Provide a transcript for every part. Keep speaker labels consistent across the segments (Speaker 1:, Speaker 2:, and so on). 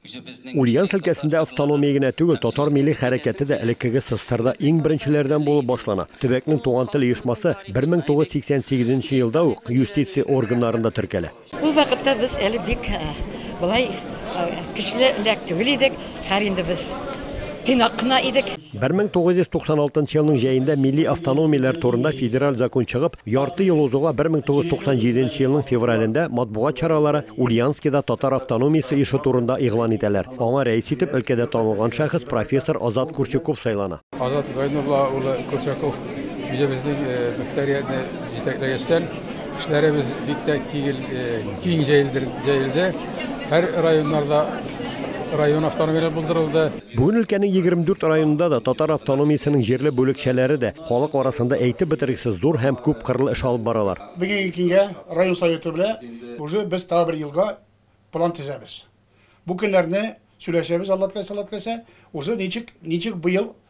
Speaker 1: Ульяновск өлкәсендә автономия генә түгел, татар милли хәрәкәте дә элеккеге Сыстырда иң беренчеләрдән булып башлана. Төбәкнең Туган тел оешмасы 1988 нче елда ук юстиция органнарында теркәлә. Ул вакытта без
Speaker 2: әле бик болай көчле эләк түгел идек, хәер инде без Тыйнак кына идек.
Speaker 1: 1996 елның җәендә милли автономияләр турында федераль закон чыгып, ярты ел узуга 1997 елның февралендә матбугат чаралары Ульянскида татар автономиясе оешы турында игълан итәләр. Аңа рәис итеп өлкәдә танылган шәхес профессор Азат Курчуков сайлана. Азат Гайнулла
Speaker 3: улы Курчаков җебезнең мөхтәриятне җитәкләгәчтән, Эшләребез бик тә кигел, э, киң җәелдер- җәелде. Һәр районнарда район автономияләре булдырылды. Бүген өлкәнең
Speaker 1: 24 районында да татар автономиясенең җирле бүлекчәләре дә халык арасында әйтеп бетергесез зур һәм күпкырлы эш алып баралар. Бүгенге көнгә
Speaker 4: район Советы белән уже без тагы бер елга план төзәбез. Бу көннәрне сөйләшәбез, Алла теләсә, Алла теләсә, уже ничек, ничек быел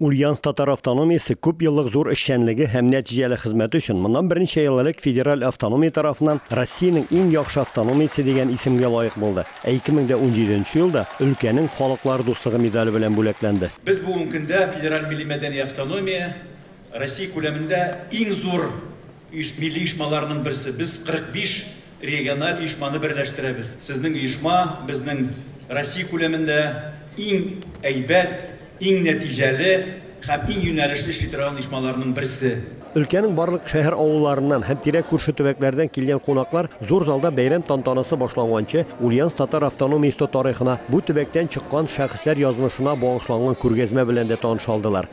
Speaker 5: Ульяновск татар
Speaker 1: автономиясе күп еллык зур эшчәнлеге һәм нәтиҗәле хезмәте өчен моннан берничә ел элек федераль автономия тарафыннан Россиянең иң яхшы автономиясе дигән исемгә лаек булды, ә 2017 нче елда өлкәнең Халыклар дуслыгы медале белән бүләкләнде. Без бүген көндә
Speaker 6: федераль милли-мәдәни автономия Россия күләмендә иң зур Иж милли оешмаларының берсе. Без 45 региональ оешманы берләштерәбез. Сезнең оешма безнең Россия күләмендә иң әйбәт, иң нәтиҗәле һәм иң юнәлешле эшли торган оешмаларның берсе. Өлкәнең барлык
Speaker 1: шәһәр-авылларыннан һәм тирә-күрше төбәкләрдән килгән кунаклар зур залда бәйрәм тантанасы башланганчы Ульяновск татар автономиясе тарихына, бу төбәктән чыккан шәхесләр язмышына багышланган күргәзмә белән дә таныша алдылар.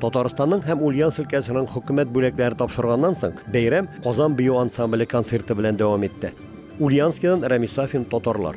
Speaker 1: Татарстанның һәм Ульяновск өлкәсенең хөкүмәт бүләкләре тапшырганнан соң, бәйрәм Казан бию ансамбле концерты белән дәвам итте. Ульяновскидан Рәмис Сафин, Татарлар.